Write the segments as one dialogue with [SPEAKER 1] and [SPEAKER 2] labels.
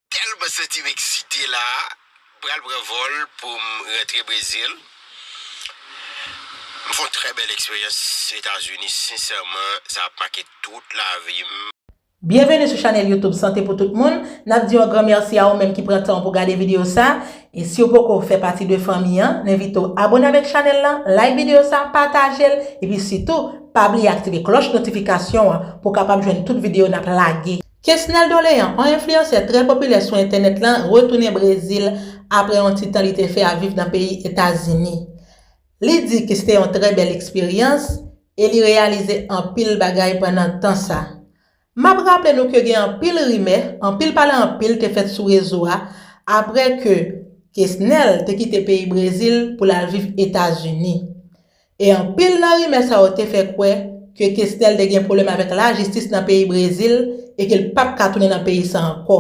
[SPEAKER 1] Telman santi m eksite la m pral pran vol pou m rantre Brezil m fè yon trè bèl eksperyans etazini sensèman sa ap make tout lavi m. Byenveni sou
[SPEAKER 2] chanèl youtube Sante pou tout moun, nap di yon gran mèsi a ou menm ki pran tan w pou gade videyo sa, e siw poko fè pati de fanmi an, n envite w abone avèk chanèl lan, like videyo sa, pataje l, epi sitou pa bliye aktive klòch notifikasyon an pou w kapab jwenn tout videyo nap lage. Kesnel Dolean, on enfliyansè trè popilè sou entènèt lan retounen Brezil apre yon ti tan li te fè ap viv nan peyi Etazini. Li di ke sete yon trè bèl eksperyans e li reyalize anpil bagay pandan tan sa. Map raple nou ke gen anpil rimè, anpil pale anpil te fèt sou rezo a apre ke Kesnel te kite peyi Brezil pou l al viv Etazini. E anpil nan rimè sa yo te fè kwè ke Kesnel te gen pwoblèm avèk lajistis nan peyi Brezil e ke l pap ka tounen nan peyi sa ankò.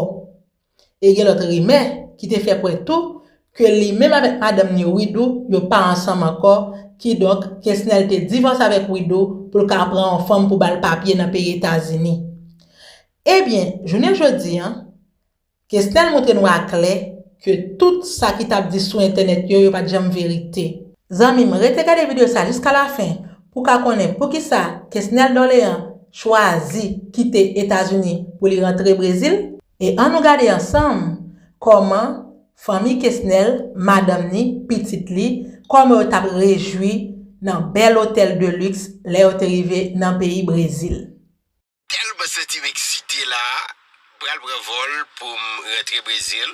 [SPEAKER 2] E gen lòt rimè ki te fè kwè tou ke li menm avèk madanm ni Widoo yo pa ansanm ankò, kidonk Kesnel te divòse avèk Widoo pou l ka pran yon fanm pou ba l papye nan peyi Etazini. Ebyen, jounen jodi an, Kesnel montre nou a klè ke tout sa ki tap di sou entènèt yo, yo pat janm verite. Zanmim rete gade video sa jiska la fin pou ka konnen poukisa Kesnel Dorlean chwazi kite Etazini pou li rantre Brezil e an nou gade ansanm koman fanmi Kesnel, madanm ni, pitit li, koman yo tap rejwi nan bèl otèl de luxe lè yo te rive nan peyi Brezil. Telman
[SPEAKER 1] santim eksite la pral pran vol poum rantre Brésil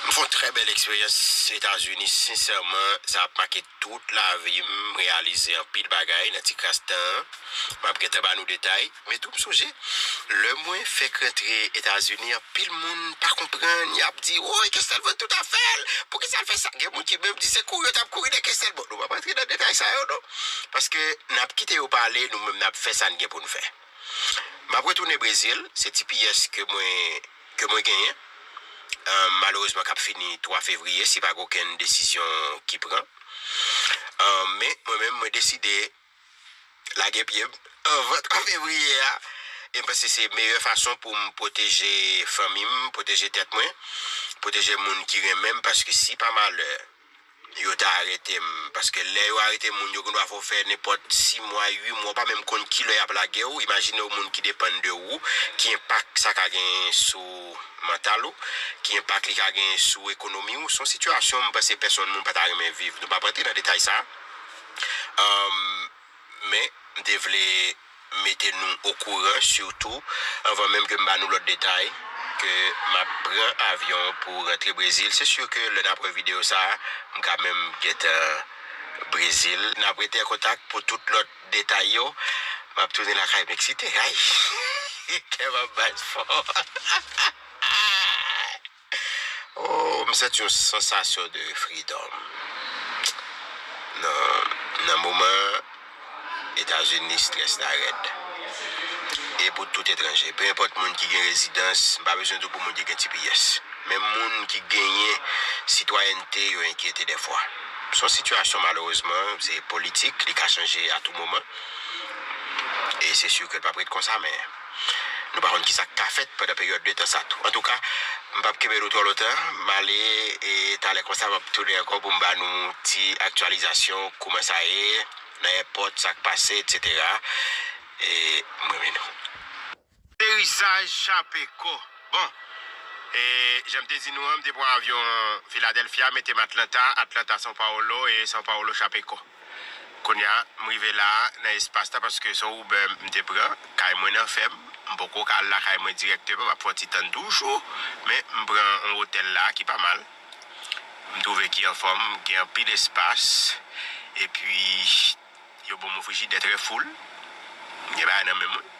[SPEAKER 1] m fon trè bèl eksperyans etazini sinsèman sa ap make tout lavim m reyalize anpil bagay nan ti kras tan an map gentan ba nou detay men tou m sonje lè mwen fèk rantre etazini anpil moun pa konprann yap di woy kestèl vann tout afèl poukisa l fè sa gen moun ki menm di se kouri yo tap kouri de kestèl bon nou pap rantre nan detay sa yo non. Paske n ap kite yo pale, nou menm n ap fè sa n gen pou n fè. M ap retounen Brezil, se ti piyès ke mwen ke mwen genyen, malerezman k ap fini 3 fevriye si pa gen okenn desizyon ki pran. Men, mwen menm mwen deside lage pye m anvan 3 fevriye a e m panse se meyè fason pou m pwoteje fanmi m, pwoteje tèt mwen, pwoteje moun ki renmen m paske si pa malè, Yo ta arete m. Paske lè yo arete moun yo gen dwa fè w fè nenpòt si mwa, ui mwa, ou pa menm konn ki lè y ap lage w. Imajine w moun ki depann de ou, ki enpak sa ka genyen sou mantal ou, ki enpak li ka genyen sou ekonomi ou. Se yon sitiyasyon m panse pèsonn moun pa ta renmen viv. Nou p ap rantre nan detay sa a. Men, m te vle mete nou okouran sitou anvan menm ke m ba nou lòt detay, ke m ap pran avyon pou rantre Brezil. Se sur ke lè n ap wè videyo sa a, m ka menm gentan Brezil. N ap rete an kontak pou tout lòt detay yo. M ap tounen lakay m eksite. Ayy! Kè m ap bat fò. Oh m santi yon sansasyon de freedom nan nan moman an etazini strès la rèd e pou tout etranje pe enpòt moun ki gen rezidans m pa bezwen di w pou moun ki gen tps menm moun ki genyen sitwayènte yo enkyete dèfwa s on sitiyasyon malerezman se politik li ka chanje a tou moman e se si ke l pap ret konsa men. Nou pa konn ki sa k ka fèt pandan peryòd de tan sa tou. Antouka, m pap kenbe nou twò lontan, m ale e talè konsa m ap tounen ankò pou m ba nou ti aktyalizasyon kouman sa ye nan èpòt, sa k pase, etsetera. E m renmen nou. Aterisaj chape ko. Bon, e jan m te di nou an, m te pran avyon Philadelphia mete m Atlanta, Atlanta São Paulo e São Paulo chape ko. Kounya m rive la a nan espas la paske se yon Uber m te pran. Kay mwen nan fèm, m poko ka al lakay mwen dirèkteman, m ap fè yon ti tann toujou. Men m pran yon otèl la a ki pa mal, m twouve ki anfòm, gen anpil espas. Epi yo ban mwen frijidè trè full, m gen bagay nan men mwen.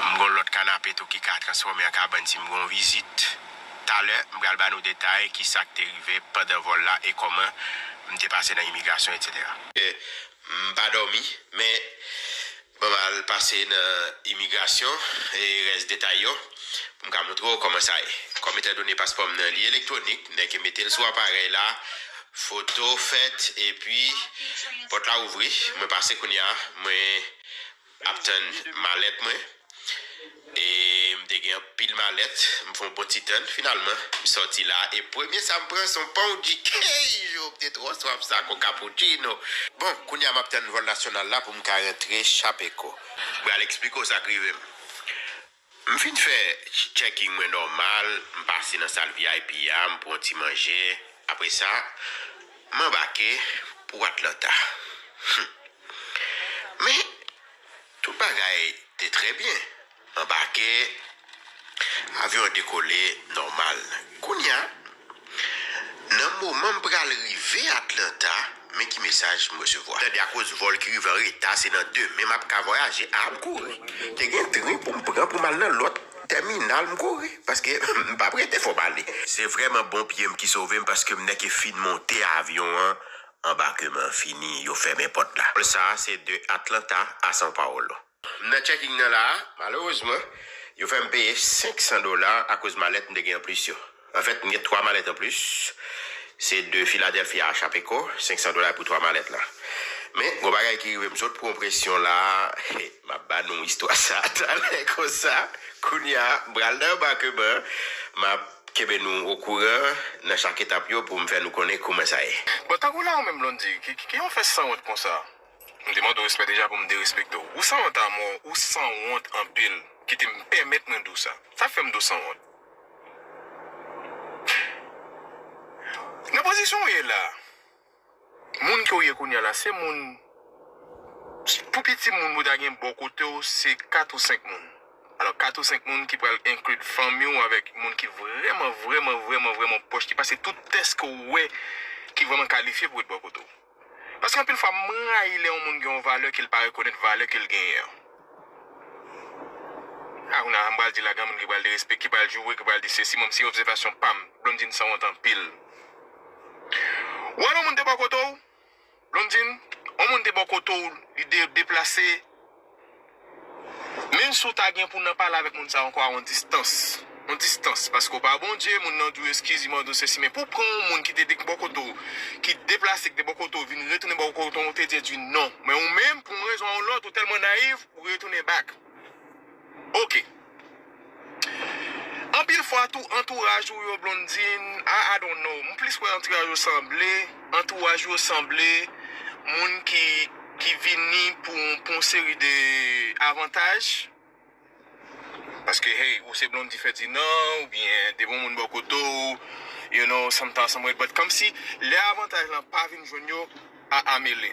[SPEAKER 1] M gon lòt kanape tou ki ka transfòme an kabann si m gon vizit. Talè, m pral ba nou detay ki sa k te rive pandan vòl la e kòman m te pase nan imigrasyon etc. M pa dòmi, men mwen pral pase nan imigrasyon e rès detay yo pou m ka montre w kòman sa ye. Kòm etandone paspò m nan li elektwonik, m nèke mete l sou aparèy la, foto fèt epi pòt la ouvri. Mwen pase kounye a. Mwen. ap tann malèt mwen e m te gen anpil malèt m fè yon bon ti tann finalman m sòti la e premye sa m pran se yon pan oudi hey jou m te twò swaf sa kon kapoutchino bon kounya m ap tann vòl nasyonal la pou m ka rantre chapeko m pral eksplike w sa k rive m M fin fè checking mwen nòmal, m pase nan sal vip a, m pran ti manje, apre sa, m anbake pou Atlanta. Humm. Men, tout bagay te trè byen. M anbake, avyon an dekole nòmal. Kounya, Nan moman m pral rive Atlanta, men ki mesaj m resevwa. Tande, akoz vòl ki rive an reta, se nan demen m ap ka vwayaje. A, m kouri. Te gen tren pou m pran pou m al nan lòt tèminal. M kouri, paske m pa p rete fò m ale. Se vrèman bon pye m ki sove m, paske m nèke fin monte avyon an, anbakeman an fini, yo fèmen pòt la. Vòl sa a se de Atlanta a São Paulo. M nan checking nan la a, malerezman, yo fè m peye 500 dola akoz malèt m te gen anplis yo. Anfèt, m gen 3 malèt anplis, se de Philadelphia a Chapeco, 500 dola pou 3 malèt la. Men, gon bagay ki rive m sot pran yon presyon la a, he, m ap ba nou istwa sa a talè konsa. Kounye a, m pral nan anbakeman an, m ap kenbe nou okouran nan chak etap yo pou m fè nou konnen kouman sa ye. Bon, tankou la ou menm
[SPEAKER 3] Blondie, ki ki ki yon fè sanwont konsa? M te mande w respè deja pou m derespekte w. Ou sanwont amò, ou sanwont anpil. Kite m pèmèt mwen di w sa. Sa k fè m di w sanwont? Nan pozisyon w ye la, moun ke w ye kounye a la se moun, pou piti moun pou ta gen bò kote w se 4 ou 5 moun. Alò 4 ou 5 moun ki pral enkli fanmi w avèk moun ki vrèman, vrèman, vrèman, vrèman pwòch, ki pase tout tès ke w wè ki vrèman kalifye pou ret bò kote w. Paske anpil fwa m rayi lè yon moun gen yon valè ke l pa rekonèt valè ke l genyen an. A kounye a m pral di la gen moun ki pral derespekte, ki pral joure, ki pral di sesi, bon se obsevasyon pa m. Blondine sanwont anpil. Ou wè lè yon moun te bò kote w, Blondine, yon moun te bò kote w li deplase. Menm si w ta gen pou w nan pale avèk moun sa ankò a yon distans, yon distans, paske w pa Bondye, moun nan di w eskiz, li mande w sesi, men pou w pran yon moun ki te de bò kote w, ki deplase, ki te bò kote w, vin retounen bò kote w, ou te di di non. Men ou menm, pou yon rezon ou lòt, ou tèlman nayiv, ou retounen back. Ok. Anpil fwa tou antouraj ou yo Blondine ah I don't know m plis wè antiraj yo sanble antouraj ou yo sanble moun ki ki vini pou pou yon seri de avantaj paske hey ou se Blondie Ferdinand oubyen depi yon moun bò kote w you know sometimes some way but kòmsi lè avantaj lan pa vin jwenn yo ah ah mele.